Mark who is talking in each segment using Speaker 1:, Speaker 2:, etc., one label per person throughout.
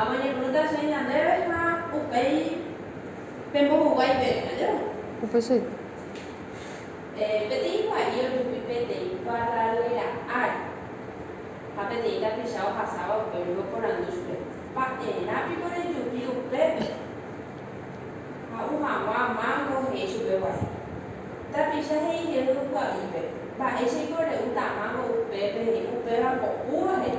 Speaker 1: Amoñepyrũta che ñandéve ha upéi pembohuguái peve. Ajépa. Upe che ita. Peteĩ kua'i ojupi peteĩ kuarraruera ári ha peteĩ tapicha ohasáva upégui oporandu chupe, Mba'erã piko rejupi upépe? Ha'u hag̃ua mángo he'i chupe gua'i. Tapicha he'i jevy kua'ípe, Mba'éichaiko re'úta mángo upépe he'i, upéva ko'úva he'i.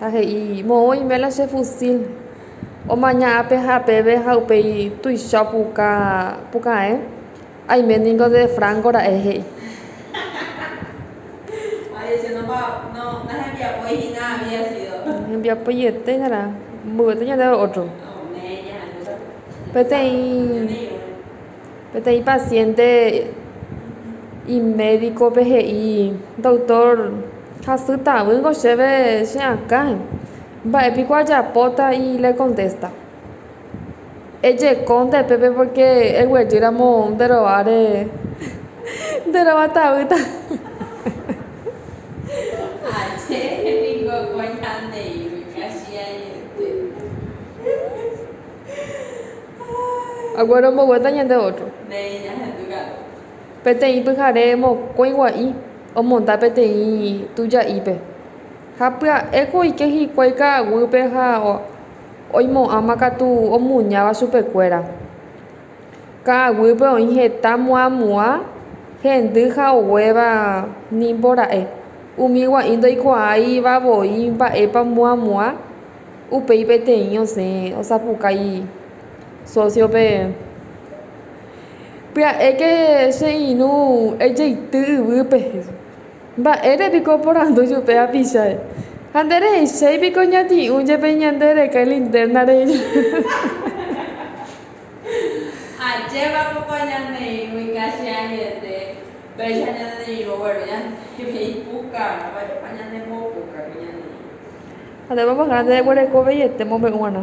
Speaker 2: Ha he'i, Moõ iméla che fusíl. Omaña ápe ha apeve ha upéi tuicha opuka puka'e. Aime ningo de Franco ra'e, he'i.
Speaker 1: Hembiapoiete
Speaker 2: hína mboyvete ñandéve ótro. Peteĩ. Peteĩ pasiénte imédikope he'i, Doktór, hasy tavýngo chéve che akã. Mba'e piko ajapóta? Y lekontésta, Ejeko nde pépe pórke eguejýramo nde rováre nde rova tavýta. Aguere ombogueta ñande ótro.
Speaker 1: Peteĩ
Speaker 2: pyhare mokõi gua'i omonda peteĩ tuja'ípe ha pya'éko oike hikuái ka'aguýpe ha oimo'ãma katu omuñáva chupekuéra. Ka'aguýpe oĩ heta muãmuã, hendy ha oguéva nimbora'e. Umi gua'i ndoikuaáiva voi mba'épa muãmuã. Upéi peteĩ osẽ osapukái sósiope, Pya'éke che irũ ejeity yvýpe, mba'ére piko oporandu chupe hapichái. Ha nde rehechéi piko ñati'ũ jepe ñande reka ilinterna rehe.
Speaker 1: Ha ndéve más grande
Speaker 2: jaguereko veiete mombe'u g̃uarã.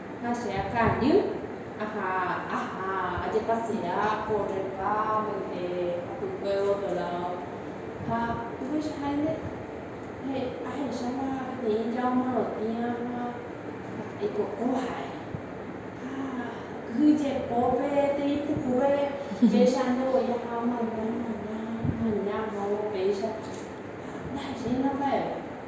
Speaker 1: Ha che akãjy aha aha ajepasea ko rrelva mante hapykuévo otro lado. Ha upeichaháinte ahecháma peteĩ jao morotĩva ha aikokóva ha'e. Ha kyhy jepo pe tei pukúpe péicha ndevoi aha omaña, omaña, omaña, omaña, omaña péicha. Ha ndahechéima mba'eve.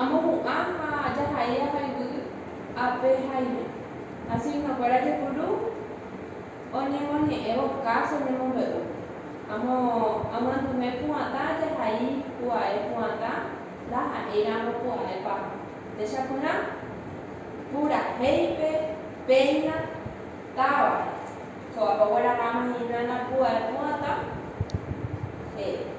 Speaker 1: Amohu'ã ha ajahai avayguy ape haime. Asignókuéra jepuru oñemoñe'ẽvo káso ñemombe'u. Amo aguanduve pu'ãta ajahai pu'ae pu'ãta ndaha'éiramo pu'ae paha. Techapyrã purahéipe péina távape. Ko apokuéra rama hína napu'ae pu'ãta, he'i.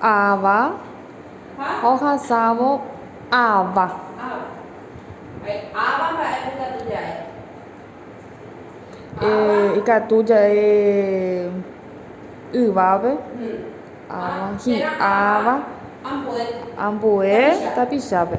Speaker 1: Ava
Speaker 2: ohasávo ava. Ikatu jae yvápe. Hi'áva. Ambue tapichápe.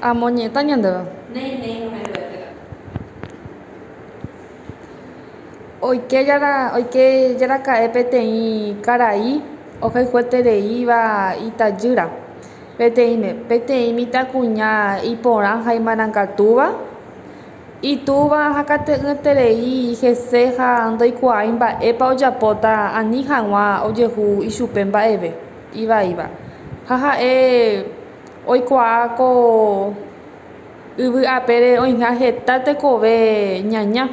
Speaker 1: Amoñeta
Speaker 2: ñandéve. Oike jara, oike jara ka'e peteĩ karai ohayhuetereíva itajýra. Peteĩme, peteĩ mitãkuña iporã ha imarangatuva. Itúva hakate'ỹeterei hese ha ndoikuaái mba'épa ojapóta ani hag̃ua ojehu ichupe mba'eve ivaíva. Ha ha'e oikuaa ko yvy apére oĩha heta tekove ñaña.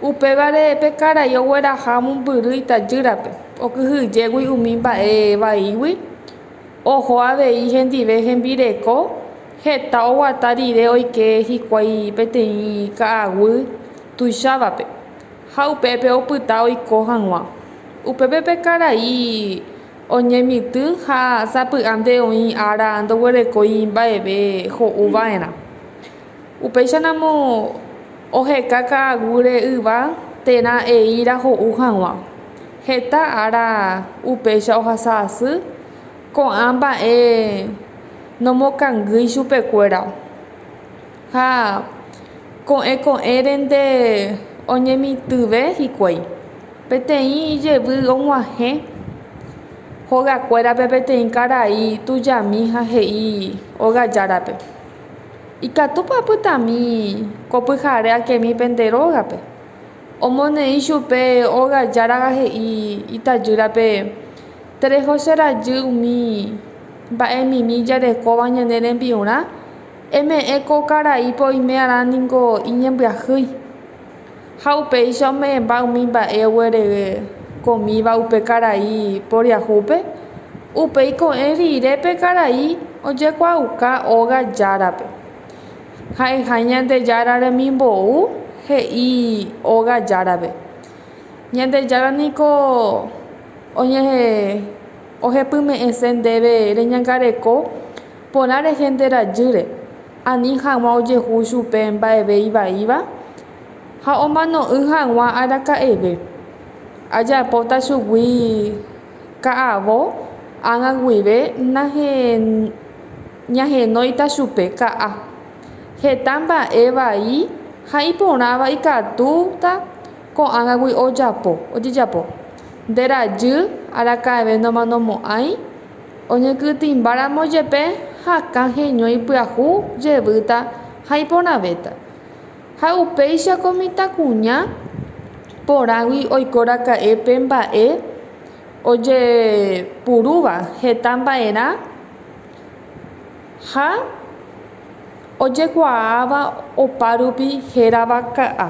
Speaker 2: Upévare pe karai ogueraha mombyry itajýrape, okyhyjégui umi mba'e vaígui Oho avei hendive hembireko, heta oguata rire oike hikuái peteĩ ka'aguy tuichávape, ha upépe opyta oiko hag̃ua. Upépe pe karai oñemitỹ ha sapy'ánte oĩ ára ndoguerekói mba'eve ho'u va'erã. Upéicharamo oheka ka'aguyre yva térã eíra ho'u hag̃ua. Heta ára upéicha ohasa asy, ko'ã mba'e nomokangýi chupekuéra. Ha ko'ẽ ko'ẽrente oñemitỹve hikuái. Peteĩ jevy og̃uahẽ hogakuérape peteĩ karai tujami ha he'i óga járape, Ikatúpa apytami ko pyhare akemi pende rógape? Omoneĩ chupe óga járaga he'i itajýrape, Tereho che rajy umi mba'emimi jarekóva ñane rembi'urã, eme'ẽ ko karaípe oime'arã ningo iñembyahýi. Ha upéicha ome'ẽmba umi mba'e oguerekomíva upe karai poriahúpe, upéi ko'ẽ rire pe karai ojekuaauka óga járape. Ha'eha Ñandejára remimbou he'i óga járape. Ñandejára niko ohepyme'ẽse ndéve reñangareko porã rehe nde rajýre, ani hag̃ua ojehu chupe mba'eve ivaíva ha omano'ỹ hag̃ua araka'eve. Ajapóta chugui ka'avo ág̃a guive ñahenóita chupe ka'a. Heta mba'e vai ha iporãva ikatúta ko'ágagui ojapo, ojejapo. Nde rajy araka'eve nomanomo'ãi, oñekytĩmbáramo jepe hakã heño ipyahu jevýta ha iporãvéta. Ha upéicha ko mitãkuña porãgui oiko raka'e pe mba'e ojepurúva heta mba'erã. Ha ojekuaáva opárupi hérava ka'a.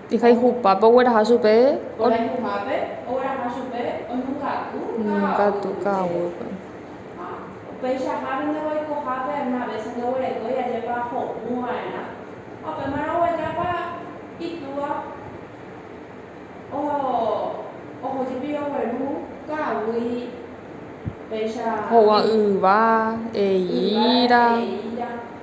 Speaker 2: Ijayhupápe ogueraha chupe
Speaker 1: oñongatu
Speaker 2: ka'aguýpe.
Speaker 1: Ho'uva yva,
Speaker 2: eíra.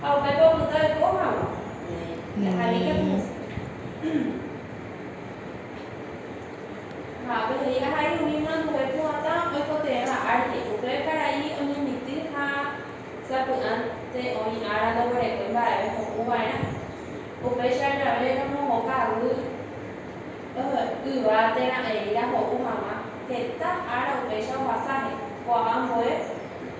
Speaker 1: Ha upépe opyta oiko hag̃ua. Ndaha'éi katu. Ha pe he'i ahai umi myambue pu'ãta oikotevẽva ári. Upe karai oñemitỹ ha sapy'ánte oĩ ára ndoguerekói mba'eve ho'u va'erã. Upéicha jave romohoka avy yva térã eíra ho'u hag̃ua. Heta ára upéicha ohasa he'i. Ko'ág̃a ambue.